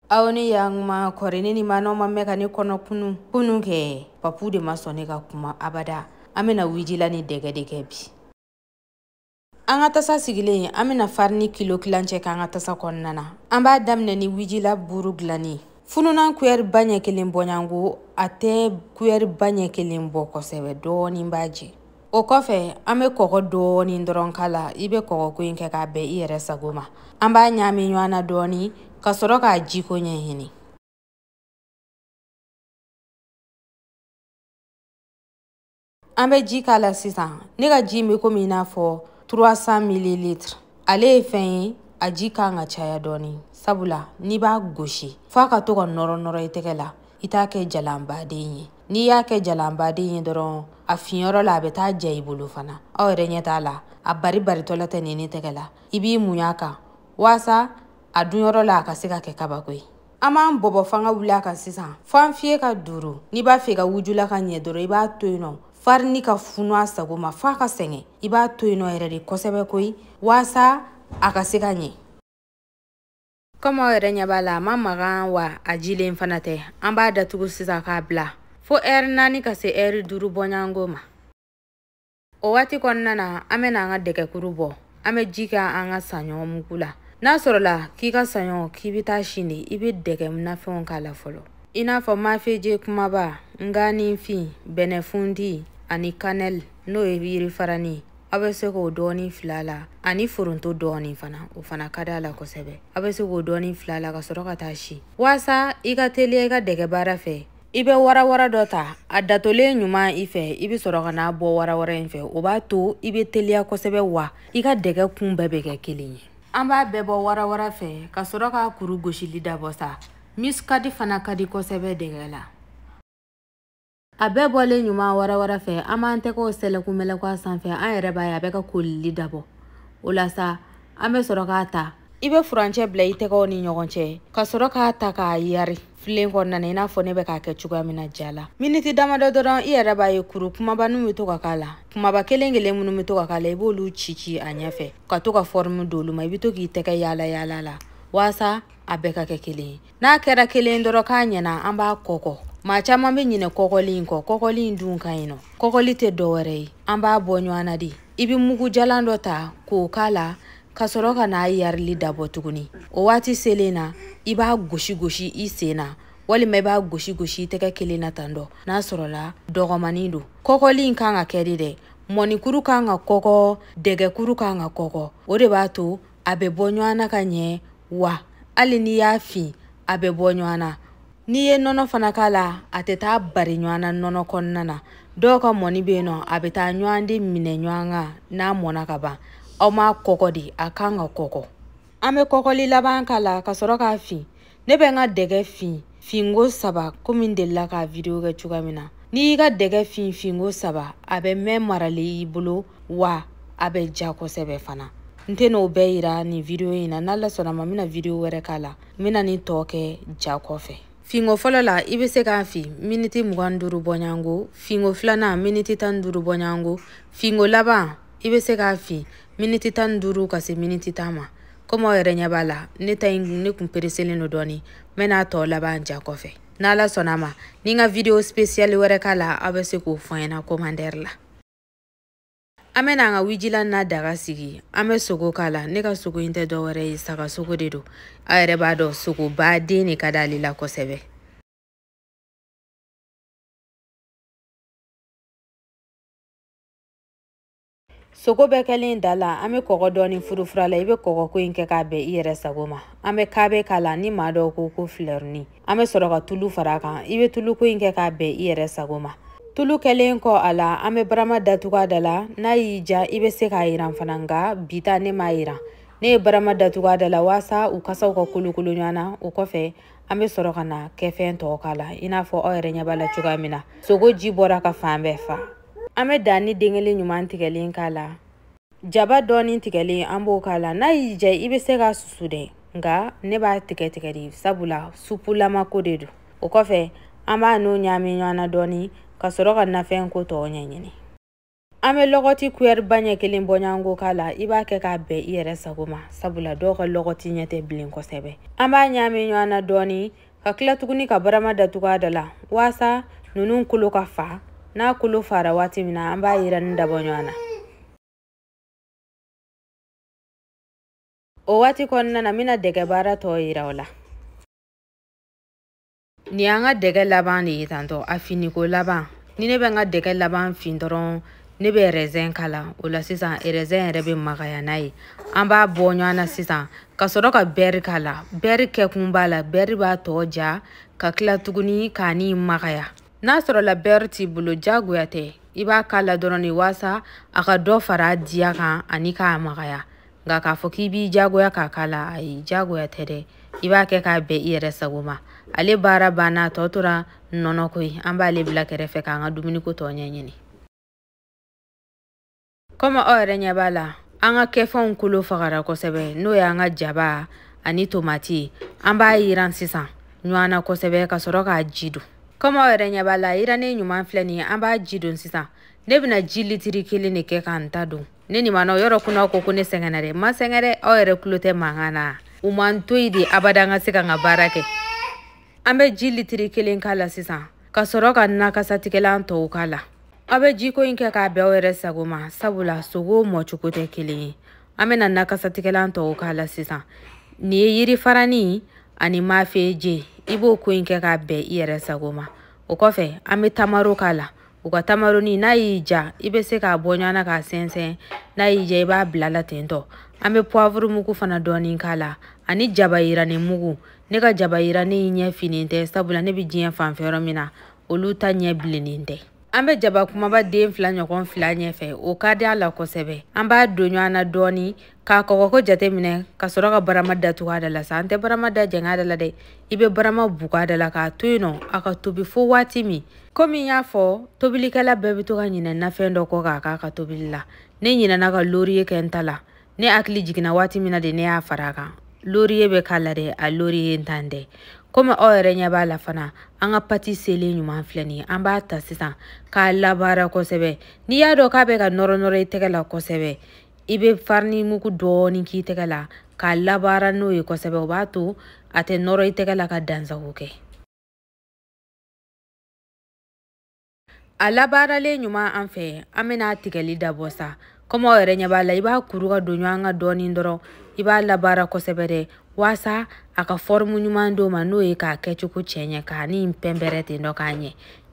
aw ni yankuma kɔri ne ni manɔ ma mɛn ka ne kɔnɔ kunu kunu kɛ papu de ma sɔn ne ka kuma abada an bɛna wijila ni dɛgɛ de kɛ bi an ka tasa sigilen an bɛna farini kilo tilancɛ k'an ka tasa kɔnɔna na an b'a daminɛ ni wijila buru dilanni fununan kuyɛri ba ɲɛ kelen bɔɲango a tɛ kuyɛri ba ɲɛ kelen bɔ kosɛbɛ dɔɔnin b'a jɛ o kɔfɛ an be kɔgɔ dɔɔni dɔrɔn k'a la i be kɔgɔko in kɛ k'a bɛn i yɛrɛ sago ma an b'a ɲaami ɲɔgɔn na dɔɔni ka sɔrɔ k'a jiko ɲɛɲini an bɛ ji k'a la sisan ne ka ji bɛ komi i n'a fɔ 300 mililitre ale ye fɛn ye a ji kan ka caya dɔɔni sabula n'i b'a gosi f'a ka to ka nɔrɔ nɔrɔ i tɛgɛ la i t'a kɛ jalanbaden ye n'i y'a kɛ jalanbaden ye dɔrɔn a funuyɔrɔ la a bɛ taa ja i bolo fana aw yɛrɛ ɲɛ t'a la a bari baritɔla tɛ nini tɛgɛ la i b'i muɲu a kan waasa a dunyɔrɔ la a ka se ka kɛ kabako ye an b'an bɔbɔ fanga wuli a kan sisan fo an fiye ka duuru n'i b'a fɛ ka wujula ka ɲɛ dɔrɔn i b'a to yen nɔ farini ka funu a sago ma f'a ka sɛgɛn i b'a to yen nɔ yɛrɛ de kosɛbɛ koyi waasa a ka se ka ɲɛ kɔmi aw yɛrɛ ɲɛ b'a la a ma magan wa a jilen fana tɛ an b'a datugu sisan k'a bila fo ɛri naani ka se ɛri duuru bɔɲango ma o waati kɔnɔna na an bɛna an ka dɛgɛkuru bɔ an bɛ ji kɛ an ka saɲɔ mugu la n'a sɔrɔla k'i ka saɲɔ k'i bɛ taa si de i bɛ dɛgɛ nafɛnw k'a la fɔlɔ i n'a fɔ mafeje kumaba nganinfin bɛnɛfundi ani kanɛli n'o ye yirifarani ye aw bɛ se k'o dɔɔni fil'a la ani foronto dɔɔni fana o fana ka d'a la kosɛbɛ aw bɛ se k'o dɔɔni fil'a la ka sɔrɔ ka taa si waasa i ka teliya i ka dɛgɛ baara fɛ i bɛ warawara dɔ ta a datolen ɲuman i fɛ i bɛ sɔrɔ ka n'a bɔ warawara in fɛ o b'a to i bɛ teliya kosɛbɛ wa i ka dɛgɛ kun bɛɛ bɛ kɛ kelen ye an b'a bɛɛ bɔ warawara fɛ ka sɔrɔ k'a kuru gosili dabɔ sa misikadi fana ka di kosɛbɛ dɛgɛ la a bɛɛ bɔlen ɲuman warawara fɛ an b'an tɛgɛw sɛlɛkumɛlɛkɔ a sanfɛ an yɛrɛ b'a ye a bɛ ka kolili dabɔ o la sa an bɛ sɔrɔ k'a ta i bɛ furancɛ bila i tɛgɛw ni ɲɔgɔn cɛ ka sɔrɔ k'a ta k'a yari filen kɔnɔna na i n'a fɔ ne bɛ k'a kɛ cogoya min na ja la miniti damadɔ dɔrɔn i yɛrɛ b'a ye kuru kumaba ninnu bɛ to ka k'a la kumaba kelen kelen minnu bɛ to ka k'a la i b'olu ci ci a ɲɛfɛ ka to ka fɔrimu d'olu ma i bɛ to k'i tɛgɛ yaala yaala la waasa a bɛɛ ka kɛ kelen ye n'a kɛra kelen dɔrɔn k'a ɲɛna an b'a kɔkɔ maa caman bɛ ɲinɛ kɔkɔli in kɔ kɔkɔli in dun ka ɲi nɔ kɔkɔli tɛ dɔwɛrɛ ye an b'a bɔ ɲɔgɔn na de i bɛ mugu jalan dɔ ta k'o k'a la ka sɔrɔ ka n'a yarili dabɔ tuguni o waati selen na i b'a gosi gosi i sen na walima i b'a gosi gosi i tɛgɛ kelen na tan dɔ n'a sɔrɔla dɔgɔmani don kɔkɔli in kan ka kɛ de dɛ mɔnikuru kan ka kɔkɔ dɛgɛkuru kan ka kɔkɔ o de b'a to a bɛ bɔ ɲɔgɔn na ka ɲɛ wa hali n'i y'a fin a bɛ bɔ ɲɔgɔn na n'i ye nɔnɔ fana k'a la a tɛ taa bari ɲɔgɔn na nɔnɔ kɔnɔna na dɔw ka mɔni bɛ yen nɔ a bɛ taa ɲɔgɔn de minɛ ɲɔgɔn kan n'a mɔnna ka ban a ma kɔkɔ dɛ a kan ka kɔkɔ an bɛ kɔkɔli laban k'a la ka sɔrɔ k'a fin ne bɛ n ka dɛgɛ fin finko saba komi n delila ka video kɛ cogoya min na n'i y'i ka dɛgɛ fin finko saba a bɛ mɛn marali i bolo wa a bɛ ja kosɛbɛ fana n tɛn'o bɛɛ yira nin video in na n'ala sɔnna ma n bɛna video wɛrɛ k'a la n bɛna nin tɔ kɛ ja kɔfɛ finko fɔlɔ la i bɛ se k'a fin miniti mugan duuru bɔɲɔgɔnko finko filanan miniti tan duuru bɔɲɔgɔnko finko laban i bɛ se k'a fin miniti tan duuru ka se miniti tan ma komi aw yɛrɛ ɲɛ b'a la ne ta in ne kun pereselen don dɔɔni n bɛna tɔ laban ja kɔfɛ n'ala sɔnna ma ni n ka video spesiyali wɛrɛ k'a la aw bɛ se k'o fɔ n ɲɛna komandɛri la an bɛna an ka wijila na daga sigi an bɛ sogo k'a la ne ka sogo in tɛ dɔwɛrɛ ye saga sogo de don aw yɛrɛ b'a dɔn sogoba den de ka d'ale la kosɛbɛ sogo bɛɛ kɛlen d'a la an bɛ kɔgɔ dɔɔni furufur'a la i bɛ kɔgɔ ko in kɛ k'a bɛn i yɛrɛ sago ma an bɛ kaabe k'a la ni maa dɔw ko ko filɛruni an bɛ sɔrɔ ka tulu fara a kan i bɛ tulu ko in kɛ k'a bɛn i yɛrɛ sago ma tulu kɛlen kɔ a la an bɛ barama datugu a da la n'a y'i diya i bɛ se k'a yiran fana nka bi ta ne m'a yiran ne ye barama datugu a da la walasa u kasaw ka kolokolo ɲɔgɔn na o kɔfɛ an bɛ sɔrɔ ka na kɛfɛn tɔw k'a la i n'a fɔ aw yɛrɛ ɲɛ b'a la cogoya min na sogo ji bɔra ka fan bɛɛ fa an bɛ danni den kelen ɲuman tigɛlen k'a la jaba dɔɔni tigɛlen an b'o k'a la n'a y'i diya i bɛ se k'a susu dɛ nka ne b'a tigɛtigɛ de sabula supulama ko de don o kɔfɛ an bɛn'o ɲaami ɲɔgɔn na dɔɔni ka sɔrɔ ka nafɛn ko tɔw ɲɛɲini an bɛ lɔgɔti kuyɛriba ɲɛ kelen bɔɲɔgɔnko k'a la i b'a kɛ k'a bɛn i yɛrɛ sago ma sabula dɔw ka lɔgɔti ɲɛ tɛ bilen kosɛbɛ an b'a ɲaami ɲɔgɔn na dɔɔni ka tila tuguni ka barama datugu a da la waasa ninnu kolo ka faa n'a kolo faara waati min na an b'a yiranni dabɔ ɲɔgɔn na o waati kɔnɔna na n bɛna dɛgɛ baara tɔ yira o la nin y'an ka dɛgɛ laban de ye tantɔ a finniko laban ni ne bɛ n ka dɛgɛ laban fin dɔrɔn ne bɛ rɛzɛn k'a la o la sisan rɛzɛn yɛrɛ bɛ magaya n'a ye an b'a bɔ ɲɔgɔn na sisan ka sɔrɔ ka bɛri k'a la bɛri kɛkun b'a la bɛri b'a tɔ diya ka tila tuguni k'a ni magaya n'a sɔrɔla bɛri t'i bolo jagoya tɛ i b'a k'a la dɔrɔn de waasa a ka dɔ fara a diya kan ani k'a magaya nka k'a fɔ k'i b'i jagoya k'a k'a la ayi jagoya tɛ dɛ i b'a kɛ k'a bɛn i yɛrɛ sago ma ale baara banna tɔ tora nɔnɔ ko ye an b'ale bila kɛrɛfɛ k'an ka dumuniko tɔ ɲɛɲini kɔmi aw yɛrɛ ɲɛ b'a la an ka kɛfɛnw kolo fagara kosɛbɛ n'o y'an ka jaba ani tomati an b'a yiran sisan ɲɔgɔn na kosɛbɛ ka sɔrɔ k'a ji don kɔmi aw yɛrɛ ɲɛ b'a la yirannen ɲuman filɛ nin ye an b'a ji don sisan ne bɛna ji litiri kelen de kɛ ka n ta don ne nin ma nɔ yɔrɔ kunna ko ko ne sɛgɛnna dɛ n ma sɛgɛn dɛ aw yɛrɛ tulo tɛ mankan na u ma n to yen de abada n ka se ka n ka baara kɛ an bɛ ji litiri kelen k'a la sisan ka sɔrɔ ka nakasatigɛlan tɔw k'a la aw bɛ jiko in kɛ k'a bɛn aw yɛrɛ sago ma sabula sogo mɔcogo tɛ kelen ye an bɛna nakasatigɛlan tɔw k'a la sisan nin ye yiri farani ani mafeje i b'o ko in kɛ k'a bɛn i yɛrɛ sago ma o kɔfɛ an bɛ tamaro k'a la u ka tamaroni n'a y'i ja i bɛ se k'a bɔ ɲɔgɔn na k'a sɛnsɛn n'a y'i ja i b'a bila a la ten tɔ an bɛ poivre mugu fana dɔɔni k'a la ani jaba yirani mugu ne ka jaba yirani in ɲɛ finen tɛ sabula ne bɛ diɲɛ fanfɛ yɔrɔ min na olu ta ɲɛ bilennen tɛ an bɛ jaba kumaba den fila ɲɔgɔn fili a ɲɛfɛ o ka di a la kosɛbɛ an b'a don ɲɔgɔn na dɔɔni k'a kɔgɔko jate minɛ ka sɔrɔ ka barama datugu a da la sa an tɛ barama da jɛngɛ a da la dɛ i bɛ barama bugu a da la k'a to yen nɔ a ka tobi fo waati min komi n y'a fɔ tobilikɛla bɛɛ bɛ to ka ɲinɛ nafɛn dɔ kɔ k'a k'a ka tobili la ne ɲinɛna ka loriye kɛ n ta la ne hakili jiginna waati min na de ne y'a fara a kan loriye bɛ k'a la dɛ a loriye ntan tɛ komi aw yɛrɛ ɲɛ b'a la fana an ka pati selen ɲuman filɛ nin ye an b'a ta sisan k'a labaara kosɛbɛ n'i y'a dɔn k'a bɛ ka nɔrɔnɔrɔ i tɛgɛ la kosɛbɛ i bɛ farini mugu dɔɔni k'i tɛgɛ la k'a labaara n'o ye kosɛbɛ o b'a to a tɛ nɔrɔ i tɛgɛ la ka dansago kɛ a labaaralen ɲuman an fɛ an bɛna a tigɛli dabɔ sa kɔmi aw yɛrɛ ɲɛ b'a la i b'a kuru k'a don ɲɔgɔn kan dɔɔni dɔrɔn i b'a labaara kosɛbɛ dɛ waasa a ka fɔrimu ɲuman d'o ma n'o ye k'a kɛcogo cɛ ɲɛ k'a ni pɛnpɛrɛ ten dɔ k'a ɲɛ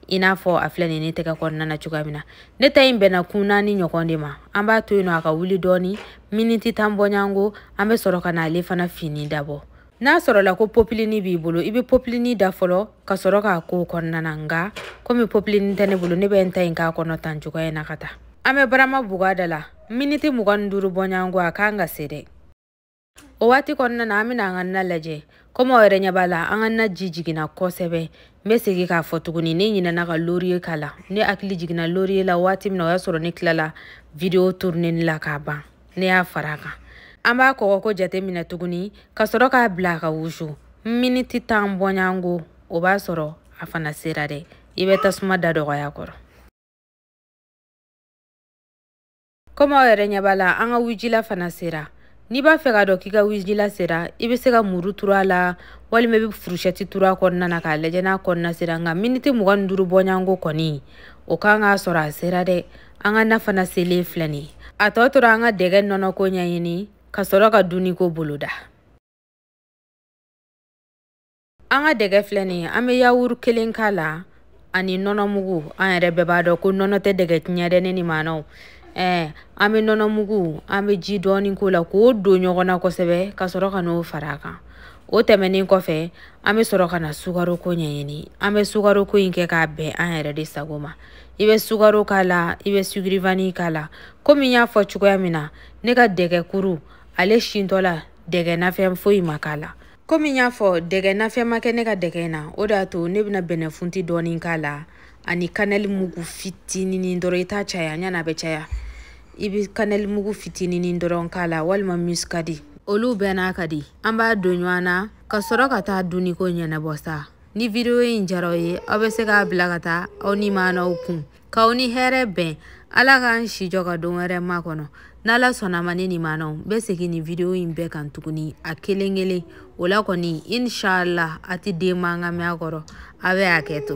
i n'a fɔ a filɛ nin ne tɛgɛ kɔnɔna na cogoya min na ne ta in bɛnna kun naani ɲɔgɔn de ma an b'a to yen nɔ a ka wuli dɔɔni miniti tan bɔɲango an bɛ sɔrɔ ka na ale fana fini dabɔ n'a sɔrɔla ko popilini b'i bolo i bɛ popilini da fɔlɔ ka sɔrɔ k'a k'o kɔnɔna na nka komi popilini tɛ ne bolo ne bɛ n ta in k'a kɔnɔ tan cogoya in na ka taa an bɛ barama bugu a da la miniti mugan ni duuru bɔɲango a ka kan ka se dɛ o waati kɔnɔna na an bɛna an ka na lajɛ komi aw yɛrɛ ɲɛ b'a la an ka na ji jiginna kosɛbɛ n bɛ segin k'a fɔ tuguni ne ɲinɛna ka loriye k'a la ne hakili jiginna loriye la waati min na o y'a sɔrɔ ne tilala video turuneni la k'a ban ne y'a fara a kan an b'a kɔgɔko jate minɛ tuguni ka sɔrɔ k'a bila a ka wusu miniti tan bɔɲango o b'a sɔrɔ a fana sera dɛ i bɛ tasuma da dɔgɔya a kɔrɔ komi aw yɛrɛ ɲɛ b'a la an ka wijila fana sera n'i b'a fɛ k'a dɔn k'i ka wijila sera i bɛ se ka muru turu a la walima i bɛ furushɛti turu a kɔnɔna na k'a lajɛ n'a kɔnɔna sera nka miniti mugan ni duuru bɔɲɔgɔnko kɔni o kan k'a sɔrɔ a sera dɛ an ka na fana selen filɛ nin ye a tɔ tora an ka dɛgɛ nɔnɔko ɲɛɲini ka sɔrɔ ka dunniko boloda an ka dɛgɛ filɛ nin ye an bɛ yawuru kelen k'a la ani nɔnɔ mugu an yɛrɛ bɛɛ b'a dɔn ko nɔnɔ tɛ dɛgɛ tiɲɛ dɛ ne ni maanaw ɛɛ an bɛ nɔnɔ mugu an bɛ ji dɔɔni k'o la k'o don ɲɔgɔn na kosɛbɛ ka sɔrɔ ka n'o fara a kan o tɛmɛnen kɔfɛ an bɛ sɔrɔ ka na sukaroko ɲɛɲini an bɛ sukaroko in kɛ k'a bɛn an yɛrɛ de sago ma i bɛ sukaro k'a la i bɛ sugirivani k'a la komi n y'a fɔ cogoya min na ne ka dɛgɛ kuru ale sintɔla dɛgɛ nafɛn foyi ma k'a la komi n y'a fɔ dɛgɛ nafɛn ma kɛ ne ka dɛgɛ in na o de y'a to ne bɛna bɛnɛfunti dɔɔni k'a la ani kanɛli mugu fitininin dɔrɔn i t'a caya yanni a bɛ caya i bɛ kanɛli mugu fitininin dɔrɔn k'a la walima muskadi olu bɛɛ n'a ka di an b'a don ɲɔgɔn na ka sɔrɔ ka taa dunniko ɲɛnabɔ sa ni vidiyo in diyara aw ye aw bɛ se k'a bila ka taa aw ni maanaw kun k'aw ni hɛrɛ bɛn ala k'an si jɔ ka don wɛrɛ makɔnɔ n'ala sɔnn'a ma ne ni maanaw bɛ segin nin video in bɛɛ kan tuguni a kelen kelen o la kɔni inshallah a tɛ den mankan mɛn a kɔrɔ a bɛ hakɛto